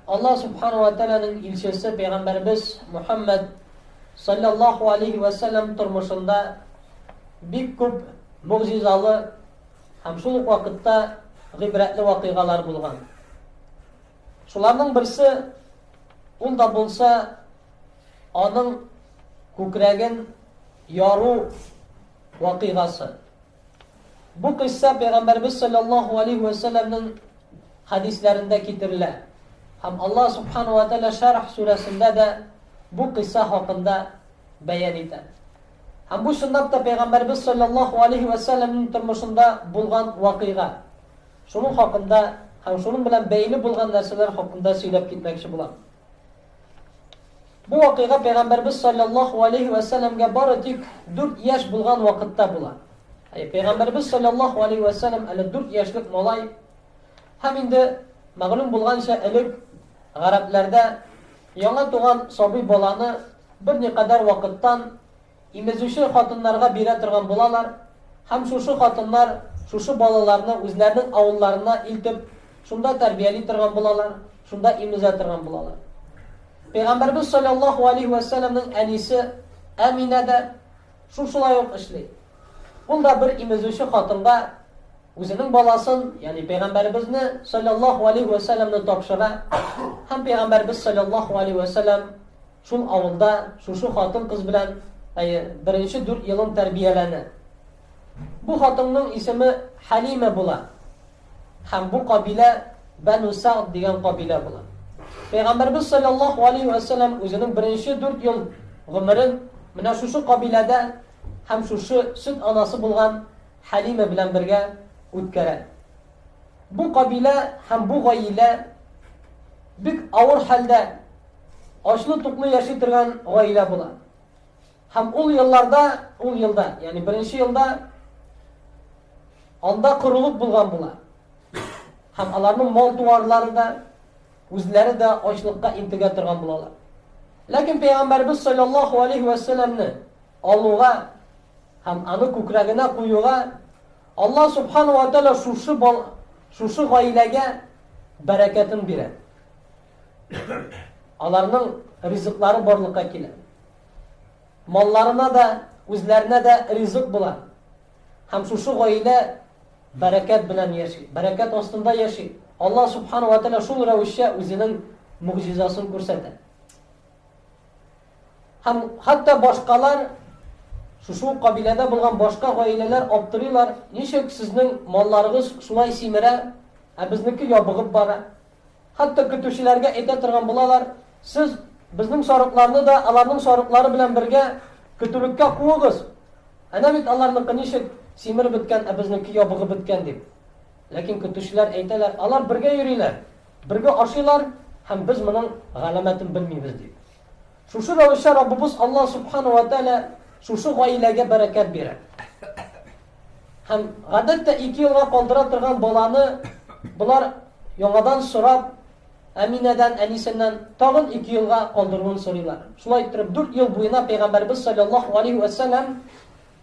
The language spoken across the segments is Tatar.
Аллаһ Субхана уә Тәгаләнең илчесе пәйгамбәребез Мөхәммәд салләллаһу алейһи вә сәлләм тормышында бик күп могҗизалы һәм шул ук вакытта гыйбрәтле вакыйгалар булган. Шуларның берсе ул да булса аның күкрәген яру вакыйгасы. Бу кыйсса Пәйгамбәрбез салләллаһу алейһи вә сәлләмнең хәдисләрендә китерелә. Һәм Аллаһ субхана вә тәгалә Шәрх сүрәсендә дә бу кыйсса хакында бәян итә. Һәм бу чынлап та Пәйгамбәрбез салләллаһу алейһи вә сәлләмнең тормышында булган вакыйга. Шуның хакында һәм шуның белән бәйле булган нәрсәләр хакында сөйләп китмәкче булам. Бу вакыйга Пәйгамбәрбез салләллаһу алейһи вә сәләмгә бары тик 4 яшь булган вакытта була. Әй, Пәйгамбәрбез салләллаһу алейһи вә сәләм әле 4 яшьлек малай. Һәм инде мәгълүм булганча, элек гарәпләрдә яңа туган сабый баланы берникадәр вакыттан Имезүче хатыннарга бирә торган булалар һәм шушы хатыннар шушы балаларны үзләренең авылларына илтеп, шунда тәрбияли торган булалар, шунда имезә торган булалар. Пәйгамбәрбез салләллаһу алейһи вә сәлләмнең әнисе Әминә дә шушылай ук эшли. Ул да бер имезүче хатынга үзенең баласын, ягъни пәйгамбәрбезне салләллаһу алейһи вә сәлләмне тапшыра һәм пәйгамбәрбез салләллаһу алейһи вә сәлләм Шул авылда шушы хатын-кыз белән, әйе, беренче дүрт елын тәрбияләнә. Бу хатынның исеме Хәлимә була. Һәм бу кабилә Бәну Сәгъд дигән кабилә була. Пәйгамбәрбез салләллаһу алейһи вә сәлләм үзенең беренче дүрт ел гомерен менә шушы кабиләдә һәм шушы сөт анасы булган Хәлимә белән бергә үткәрә. Бу кабилә һәм бу гаилә бик авыр хәлдә Ачлы-туклы яши торган гаилә була. Һәм ул елларда, ул елда, ягъни беренче елда анда корылык булган була. Һәм аларның мал-туарлары да, үзләре дә ачлыкка интегә торган булалар. Ләкин пәйгамбәрбез саллаллаһу алейхи ва салламны алуга һәм аны күкрәгенә куюга Алла субхану ва тааля шушы шушы гаиләгә бәрәкәтен бирә. Аларның ризыклары барлыкка килә. Малларына да, үзләренә дә ризык була. Һәм шушы гаилә бәрәкәт белән яши, бәрәкәт астында яши. Алла субхану ва тәала шул рәвешчә үзенең мөгъҗизасын күрсәтә. Һәм хәтта башкалар шушы кабиләдә булган башка гаиләләр аптырыйлар, ничек сезнең малларыгыз шулай симерә, ә безнеке ябыгып бара? Хәтта көтүчеләргә әйтә торган булалар, Сез безнең сарыкларны да аларның сарыклары белән бергә көтүлеккә куыгыз. Әнә бит аларныкы ничек симереп беткән, ә безнеке ябыгып беткән, дип. Ләкин көтүчеләр әйтәләр, Алар бергә йөриләр, бергә ашыйлар һәм без моның галәмәтен белмибез, дип. Шушы рәвешчә Раббыбыз Аллаһ Субхана ва Тәгалә шушы гаиләгә бәрәкәт бирә. Һәм гадәттә ике елга калдыра торган баланы болар яңадан сорап, Әминәдән, әнисеннән тагын ике елга калдыруын сорыйлар. Шулай иттереп, дүрт ел буена Пәйгамбәрбез салләллаһу алейһи вә сәлләм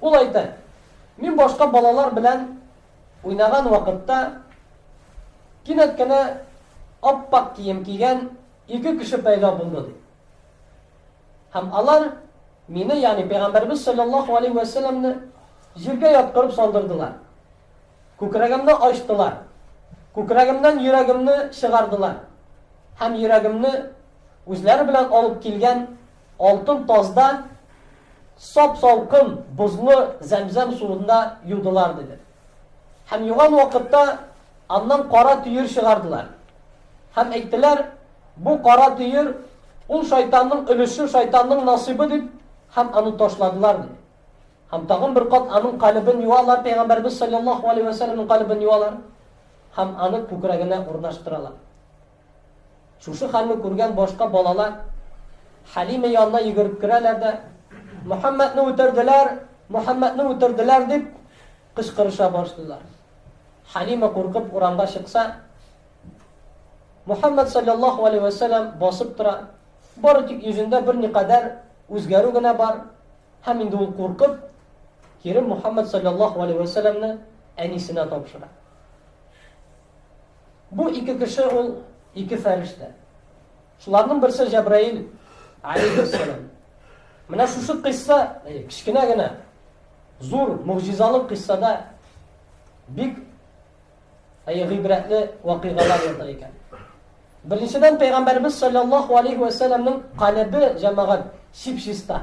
Ул әйтә, Мин башка балалар белән уйнаган вакытта, кинәт кенә ап-ак кием кигән ике кеше пәйда булды, ди. Һәм алар мине, ягъни пәйгамбәрбез саллаллаху алейхи ва салламны җиргә яткырып салдырдылар. Күкрәгемне ачтылар. Күкрәгемнән йөрәгемне чыгардылар. Һәм йөрәгемне үзләре белән алып килгән Алтын тазда сап-салкын бозлы зәмзәм суында юдылар, диде. Һәм юган вакытта аннан кара төер чыгардылар. Һәм әйттеләр, Бу кара төер, ул шайтанның өлеше, шайтанның насыйбы, дип, һәм аны ташладылар, диде. Һәм тагын бер кат аның калебен юалар, пәйгамбәрбез салләллаһу алейһи вә сәлләмнең калебен юалар һәм аны күкрәгенә урнаштыралар. Шушы хәлне күргән башка балалар Хәлимә янына йөгереп керәләр дә, Мөхәммәдне үтерделәр, Мөхәммәдне үтерделәр дип кычкырыша башлыйлар. Хәлимә куркып урамга чыкса, Мөхәммәд саллаллаһу алейһи ва сәлләм басып тора. Бары тик йөзендә бер никадәр үзгәрү генә бар, һәм инде ул куркып, кире Мөхәммәд саллаллаһу алейһи ва сәлләмне әнисенә тапшыра. Бу ике кеше ул ике фәрештә. Шуларның берсе Җәбраил алейхиссалам. Менә шушы кыйсса, э, кечкенә генә, зур, могҗизалы кыйссада бик әйе гыйбрәтле вакыйгалар ята икән. Беренчедән пәйгамбәрбез саллаллаһу алейхи ва сәлламның каләбе җәмәгать чип-чиста.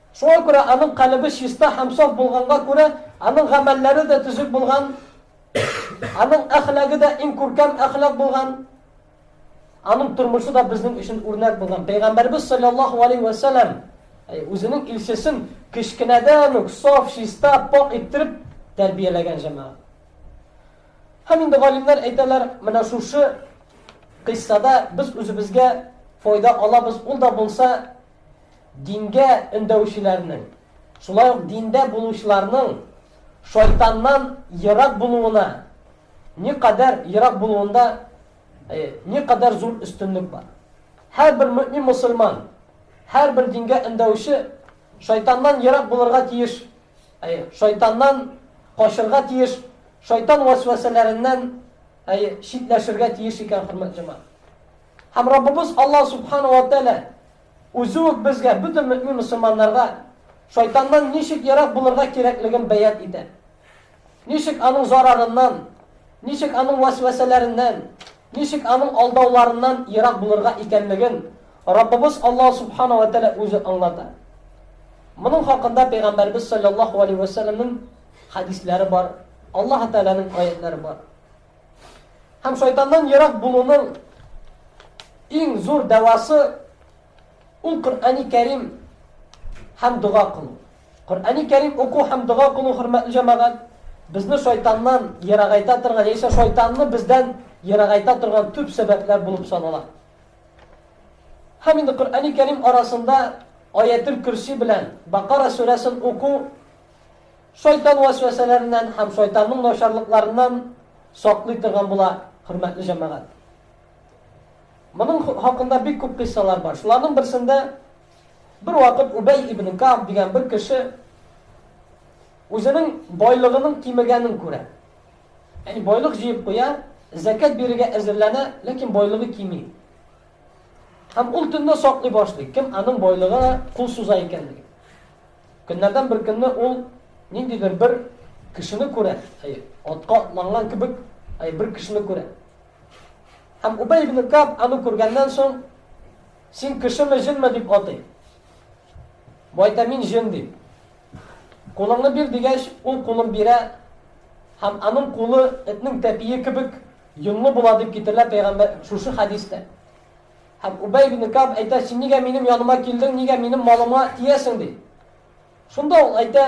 Шуңа күрә аның калебе чиста һәм саф булганга күрә, аның гамәлләре дә төзек булган, аның әхлагы да иң күркәм әхлак булган, аның тормышы да безнең өчен үрнәк булган. Пәйгамбәрбез саллаллаһу алейһи вә сәләм үзенең илчесен кечкенәдән үк саф, чиста, пакь иттереп тәрбияләгән җәмәгать. Һәм инде галимнәр әйтәләр, менә шушы кыйссада без үзебезгә файда алабыз, ул да булса Дингә өндәүчеләрнең, шулай ук диндә булучыларның шайтаннан ерак булуына никадәр ерак булуында никадәр зур өстенлек бар. Һәрбер мөэмин мөселман, һәрбер дингә өндәүче шайтаннан ерак булырга тиеш, шайтаннан качырга тиеш, шайтан вәсвәсәләреннән читләшергә тиеш икән, хөрмәтле җәмәгать. Һәм Раббыбыз Аллаһ Сүбхәнәһү вә Тәгалә Үзе үк безгә, бөтен мөэмин мөселманнарга, шайтаннан ничек ерак булырга кирәклеген бәян итә. Ничек аның зарарыннан, ничек аның вәсвәсәләреннән, ничек аның алдауларыннан ерак булырга икәнлеген Раббыбыз Аллаһ Сүбхәнәһү вә Тәгалә Үзе аңлата. Моның хакында Пәйгамбәребез салләллаһу галәйһи вә сәлләмнең хәдисләре бар, Аллаһы Тәгаләнең аятьләре бар. Һәм шайтаннан ерак булуның иң зур дәвасы ул Коръәни Кәрим һәм дога кылу. Коръәни Кәрим уку һәм дога кылу хөрмәтле җәмәгать безне шайтаннан ерагайта торган, яисә шайтанны бездән ерагайта торган төп сәбәпләр булып санала. Һәм инде Коръәни Кәрим арасында Аятел Курси белән Бакара сүрәсен уку Шайтан вәсвәсәләреннән һәм шайтанның начарлыкларыннан саклый торган була, хөрмәтле җәмәгать. Моның хакында бик күп кыйссалар бар. Шуларның берсендә бер вакыт Убәй ибн Каб дигән бер кеше үзенең байлыгының кимегәнен күрә. Яни байлык җыеп куя, зәкәт бирергә әзерләнә, ләкин байлыгы кими. Һәм ул төнне саклый башлый, кем аның байлыгына кул суза икәнлеген. Көннәрдән бер көнне ул ниндидер бер кешене күрә, әйе, атка атланган кебек, әйе, бер кешене күрә. Һәм Убәй ибн Каб аны күргәннән соң, син кешеме, җенме дип атый. Бу әйтә, мин җен дип. Кулыңны бир дигәч, ул кулын бирә, һәм аның кулы этнең тәпие кебек йонлы була дип китерелә пәйгамбәр шушы хәдистә. Һәм Убәй ибне Кәгъб әйтә, Син нигә минем яныма килдең, нигә минем малыма тиәсең? ди. Шунда ул әйтә,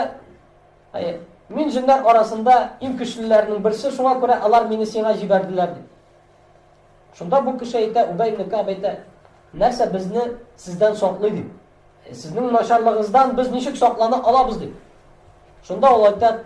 Әйе, мин җеннәр арасында иң көчлеләрнең берсе, шуңа күрә алар мине сиңа җибәрделәр, ди. Шунда бу кеше әйтә, Убәй ибне Кәгъб әйтә, Нәрсә безне сездән саклый, ди. Сезнең начарлыгыгыздан без ничек саклана алабыз, ди. Шунда ул әйтә,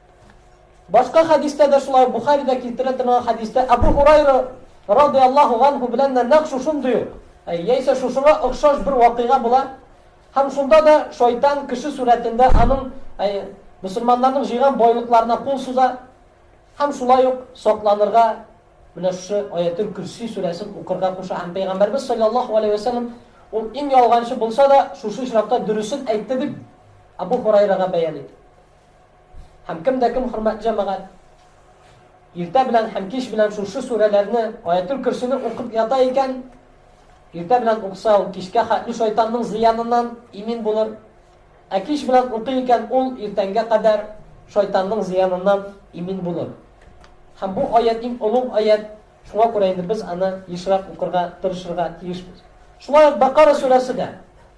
Башка хәдистә дә шулай ук, Бухаридә китерә торган хәдистә Әбу Һурайра радый Аллаһу ганһу белән дә нәкъ шушындый ук, яисә шушыңа охшаш бер вакыйга була һәм шунда да шайтан кеше сурәтендә аның мөселманнарның җыйган байлыкларына кул суза һәм шулай ук сакланырга менә шушы аятел көрси сүрәсен укырга куша һәм пәйгамбәрбез саллаллаху алейхи вәсәлләм ул иң ялганчы булса да шушы очракта дөресен әйтте дип Әбу Һурайрага бәян итә. Һәм кем дә кем, хөрмәтле җәмәгать, иртә белән һәм кич белән шушы сүрәләрне, аятул көрсене укып ята икән, иртә белән укса ул кичкә хәтле шайтанның зыяныннан имин булыр. Ә кич белән укый икән ул иртәнгә кадәр шайтанның зыяныннан имин булыр. Һәм бу аят иң олуг аят, шуңа күрә инде без аны ешрак укырга тырышырга тиешбез. Шулай ук Бакара сүрәсе дә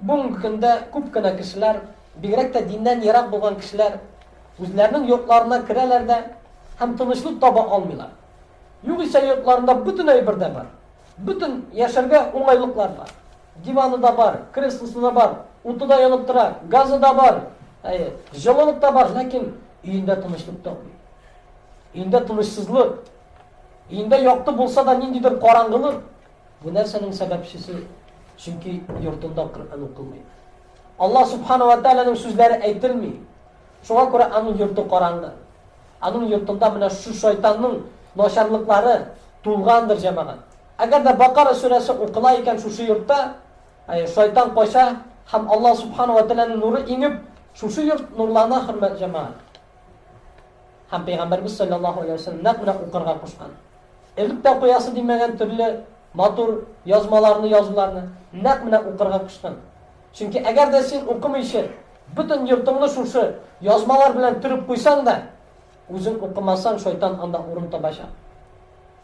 Бүгенге көндә күп кенә кешеләр, бигрәк тә диннән ерак булган кешеләр, үзләренең йортларына керәләр дә һәм тынычлык таба алмыйлар. Югыйсә йортларында бөтен әйбер дә бар. Бөтен яшәргә уңайлыклар бар. Диваны да бар, креслосы да бар, уты да янып тора, газы да бар, әйе, җылылык та бар, ләкин өендә тынычлык тапмый. Өендә тынычсызлык, өендә якты булса да ниндидер караңгылык. Бу нәрсәнең сәбәпчесе, чөнки йортында Коръән укылмый. Аллаһ Субхана ва Тәгаләнең сүзләре әйтелми. Шуңа күрә аның йорты караңгы. Аның йортында менә шу шайтанның начарлыклары тулгандыр җәмәгать. Әгәр дә Бакара сүрәсе укыла икән шушы йортта, әй, шайтан кача һәм Аллаһ Субхана ва Тәгаләнең нуры иңеп, шушы йорт нурлана, хөрмәт җәмәгать. Һәм Пәйгамбәребез салләллаһу галәйһи ва сәлләм нәкъ менә укырга кушкан. Элек тә укыясы димәгән төрле матур язмаларны, язуларны нәкъ менә укырга кушкан. Чөнки әгәр дә син укымыйча, бөтен йортыңны шушы язмалар белән төреп куйсаң да, үзең укымасаң, шайтан анда урын табачак.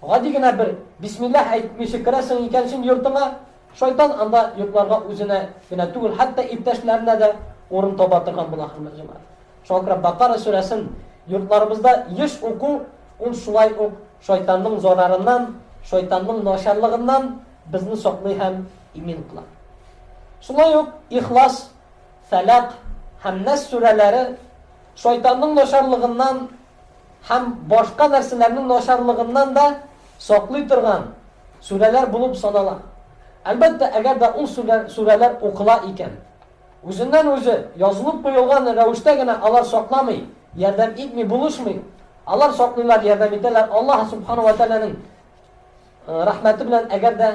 Гади генә бер бисмиллаһ әйтмичә керәсең икән син йортыңа, Шайтан анда йокларга үзенә генә түгел, хәтта иптәшләренә дә урын таба торган була, хөрмәтле җәмәгать. Шуңа күрә Бакара сүрәсен йортларыбызда еш уку, ул шулай ук шайтанның зарарыннан, шайтанның начарлыгыннан безне саклый һәм имин кыла. Шулай ук Ихлас, Фәләк һәм Нәс сүрәләре шайтанның начарлыгыннан, һәм башка нәрсәләрнең начарлыгыннан да саклый торган сүрәләр булып санала. Әлбәттә, әгәр дә ул сүрәләр укыла икән. Үзеннән-үзе язылып куелган рәвештә генә алар сакламый, ярдәм итми булышмый. Алар саклыйлар, ярдәм итәләр Аллаһ Субхана ва Тәгаләнең Рәхмәте белән, әгәр дә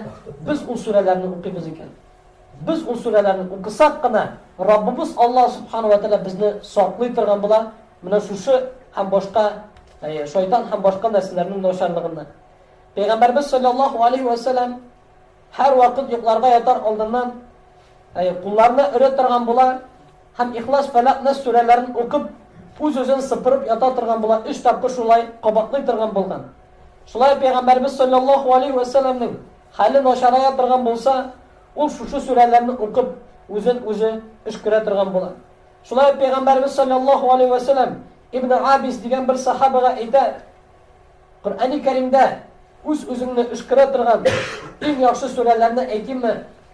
без ул сүрәләрне укыйбыз икән. Без ул сүрәләрне укысак кына, Раббыбыз Аллаһ Субхана ва Тәгалә безне саклый торган була, менә шушы һәм башка шайтан һәм башка нәрсәләрнең начарлыгыннан. Пәйгамбәрбез саллаллаху алейхи ва саллям һәр вакыт йокларга ятар алдыннан кулларына өрә торган була, Һәм Ихлас, Фәләкъ, Нәс сүрәләрен укып, үз-үзен сыпырып ята торган була, өч тапкыр шулай кабатлый торган булган. Шулай ук Пәйгамбәребез салләллаһу алейһи вә сәлләмнең хәле начарая торган булса, ул шушы сүрәләрне укып, үзен үзе өшкерә торган була. Шулай ук Пәйгамбәребез салләллаһу алейһи вә сәлләм Ибне Абис дигән бер сәхабәгә әйтә, Коръәни Кәримдә үз-үзеңне өшкерә торган иң яхшы сүрәләрне әйтимме,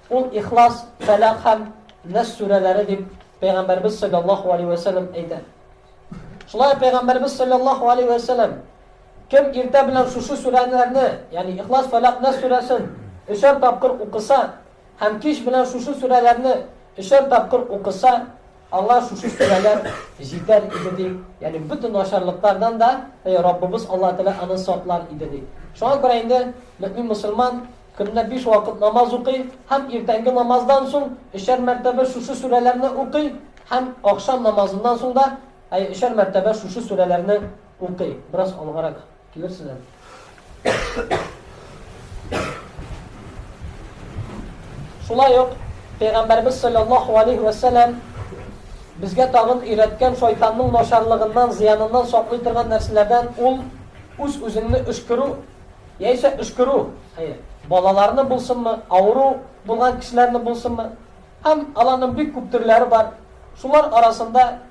ул Ихлас, Фәләх һәм Нәс сүрәләре, дип Пәйгамбәрбез салләллаһу алейһи вә сәлләм әйтә. Шулай ук Пәйгамбәрбез салләллаһу алейһи вә сәлләм кем иртә белән шушы сүрәләрне, ягъни Ихлас, Фәләх, Нәс сүрәсен өчәр тапкыр укыса, Һәм кич белән шушы сүрәләрне өчәр тапкыр укыса, аңа шушы сүрәләр җитәр иде, ди. Ягъни бөтен начарлыклардан да Раббыбыз Аллаһы Тәгалә аны саклар иде, ди. Шуңа күрә инде мөэмин-мөселман көненә биш вакыт намаз укый һәм иртәнге намаздан соң өчәр мәртәбә шушы сүрәләрне укый һәм ахшам намазыннан соң да өчәр мәртәбә шушы сүрәләрне укый. Бераз алгарак. Килерсең әле. Шулай ук Пәйгамбәрбез саллаллаһу алейхи ва саллям безгә тагын өйрәткән шайтанның начарлыгыннан, зыяныннан саклый торган нәрсәләрдән ул үз үзеңне өшкерү, яисә өшкерү. Хәер, балаларны булсынмы, авыру булган кешеләрне булсынмы, һәм аларның бик күп төрләре бар. Шулар арасында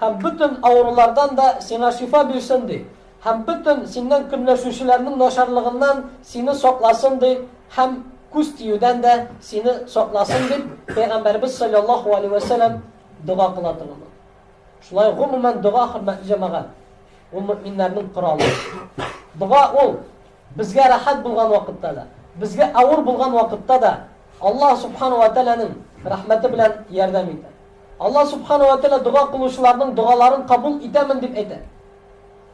Һәм бөтен авырулардан да сиңа шифа бирсен, ди, һәм бөтен синнән көнләшүчеләрнең начарлыгыннан сине сакласын, ди, һәм күз тиюдән дә сине сакласын, дип, пәйгамбәребез салләллаһу галәйһи вә сәлләм дога кыла торган. Шулай гомумән дога, хөрмәтле җәмәгать, ул мөэминнәрнең коралы. Дога ул безгә рәхәт булган вакытта да, безгә авыр булган вакытта да Аллаһ субхана вә тәгаләнең рәхмәте белән ярдәм итә. Алла Сүбхәнә вә Тәгалә дога кылучыларның догаларын кабул итәмен дип әйтә.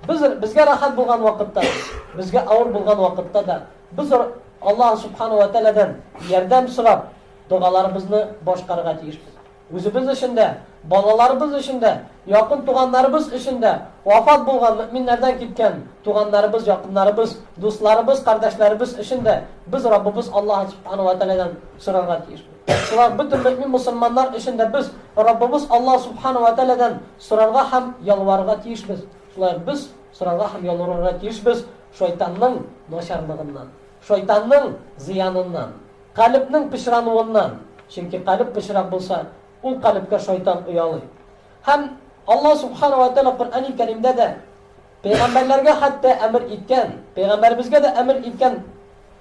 Без, безгә рәхәт булган вакытта да, безгә авыр булган вакытта да, без Алла Сүбхәнә вә Тәгаләдән ярдәм сорап, догаларыбызны башкарырга тиешбез. Үзебез өчен дә, балаларыбыз өчен дә, якын туганнарыбыз өчен дә, вафат булган, мөэминнәрдән киткән туганнарыбыз, якыннарыбыз, дусларыбыз, кардәшләребез өчен дә без Раббыбыз Алла Сүбхәнә вә Тәгаләдән сорарга тиешбез. Шулай ук бөтен мөэмин мөселманнар өчен дә без Раббыбыз Аллаһ Субхана вә Тәгаләдән сорарга һәм ялварырга тиешбез. Шулай ук без сорарга һәм ялварырга тиешбез шайтанның начарлыгыннан, шайтанның зыяныннан, калебнең пычрануыннан, чөнки калеб пычрак булса, ул калебкә шайтан оялый. Һәм Аллаһ Субхана вә Тәгалә Коръәни Кәримдә дә пәйгамбәрләргә хәтта әмер иткән, пәйгамбәребезгә дә әмер иткән,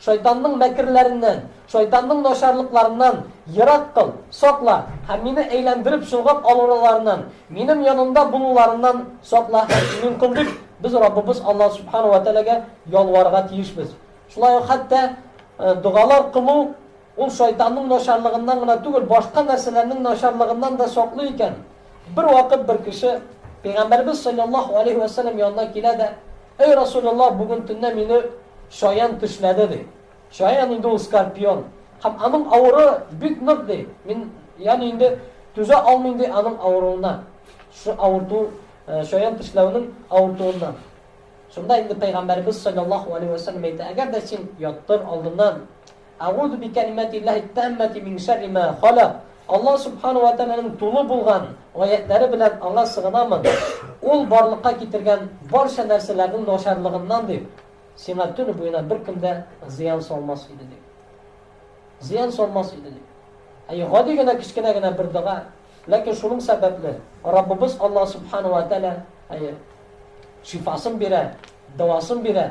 Шайтанның мәкерләреннән, шайтанның начарлыкларыннан ерак кыл, сакла, һәм мине әйләндереп чолгап алулыларыннан, минем янымда булуларыннан сакла һәм имин кыл, дип, без Раббыбыз Аллаһ Сүбхәнәһү вә Тәгаләгә ялварырга тиешбез. Шулай ук хәтта догалар кылу, Ул шайтанның начарлыгыннан гына түгел, башка нәрсәләрнең начарлыгыннан да саклый икән. Бервакыт бер кеше Пәйгамбәребез салләллаһу галәйһи вә сәлләм янына килә дә, Әй Расуләллаһ, бүген төнлә мине чаян тешләде, ди. Чаян инде ул скорпион. Һәм аның авыры бик нык, ди. Мин, ягъни инде түзә алмыйм, ди, аның авыруына. Шушы авырту, чаян тешләүнең авыртуыннан. Шунда инде Пәйгамбәребез салләллаһу галәйһи вә сәлләм әйтә, Әгәр дә син яттыр алдыннан Әгузу бикәлимәтиллаһи тәммәти мин шәрри мә халак. Аллаһ Субхана уә Тәгаләнең тулы булган гаятьләре белән аңа сыгынамын, ул барлыкка китергән барча нәрсәләрнең начарлыгыннан, дип, сиңа төне буена беркем дә зыян салмас иде, дип. Зыян салмас иде, дип. Әйе, гади генә кечкенә генә бер дога, ләкин шуның сәбәпле Раббыбыз Аллаһ Субхана уә Тәгалә, әйе, шифасын бирә, дәвасын бирә.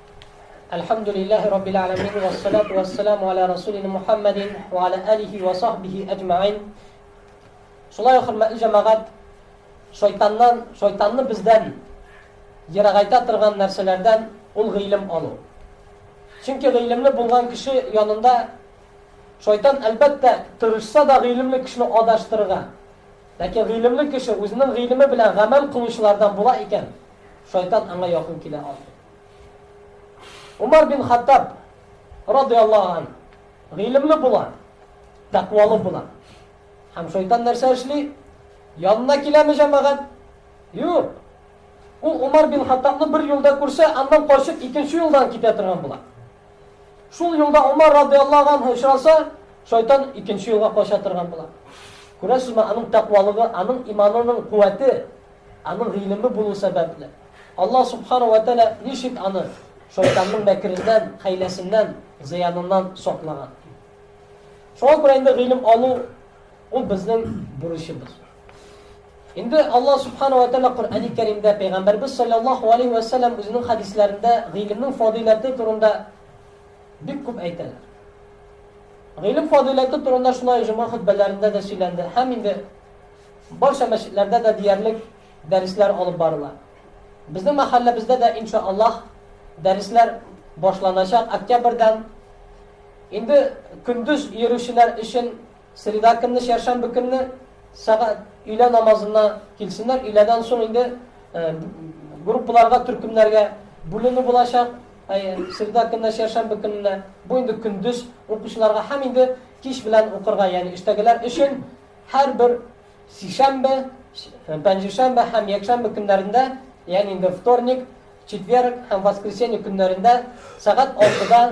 Әлхәмдүлилләһи раббил әләмин вә салату вә саламу аля расулина Мухаммадин вә аля алихи вә сахбихи әҗмәгин. Шулай ук хөрмәтле җәмәгать, шайтаннан, шайтанны бездән ерагайта торган нәрсәләрдән ул гыйлем алу. Чөнки гыйлемле булган кеше янында шайтан әлбәттә тырышса да гыйлемле кешене адаштырырга. Ләкин гыйлемле кеше үзенең гыйлеме белән гамәл кылучылардан була икән, шайтан аңа якын килә алмый. Умар бин Хаттаб радиаллаһу ан гыйлемле була, тәкъвалы була. Һәм шайтан нәрсә эшли? Янына киләме җәмәгать? Юк. Ул Умар бин Хаттабны бер юлда күрсә, аннан качып икенче юлдан китә торган була. Шул юлда Умар радиаллаһу анһу очраса, шайтан икенче юлга кача торган була. Күрәсезме, аның тәкъвалыгы, аның иманының куәте Аның гыйлеме булу сәбәпле, Аллаһ Субхана вә Тәгалә ничек аны шайтанның мәкереннән, хәйләсеннән, зыяныннан саклаган. Шуңа күрә инде гыйлем алу ул безнең бурычыбыз. Инде Аллаһ Субхана вә Тәгалә Коръәни Кәримдә пәйгамбәрбез саллаллаху алейхи вә сәлләм үзенең хадисләрендә гыйлемнең фадыйләте турында бик күп әйтәләр. Гыйлем фадыйләте турында шулай җомга хөтбәләрендә дә сөйләнде һәм инде Барча мәчетләрдә дә диярлек дәресләр алып барыла. Безнең мәхәлләбездә дә, инша Аллаһ, дәресләр башланачак октябрьдән. Инде көндез йөрүчеләр өчен среда көнне, чәршәмбе көнне сәгать өйлә намазына килсеннәр, өйләдән соң инде группаларга, төркемнәргә бүленү булачак. Среда көнне, чәршәмбе көнне бу инде көндез укучыларга һәм инде кич белән укырга, ягъни эштәгеләр өчен Һәрбер сишәмбе, пәнҗешәмбе һәм якшәмбе көннәрендә, ягъни инде вторник, четверг һәм воскресенье көннәрендә сәгать 6-да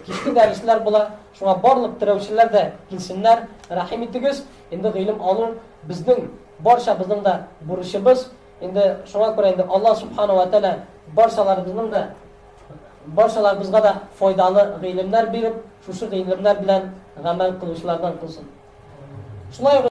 кичке дәресләр була. Шуңа барлык терәүчеләр дә килсеннәр, рәхим итегез. Инде гыйлем алу безнең барчабызның да бурычыбыз. Инде шуңа күрә инде Алла субхана ва тәгалә барчаларыбызның да Барчаларыбызга да файдалы гыйлемнәр биреп, шушы гыйлемнәр белән гамәл кылучылардан кылсын. Шулай ук.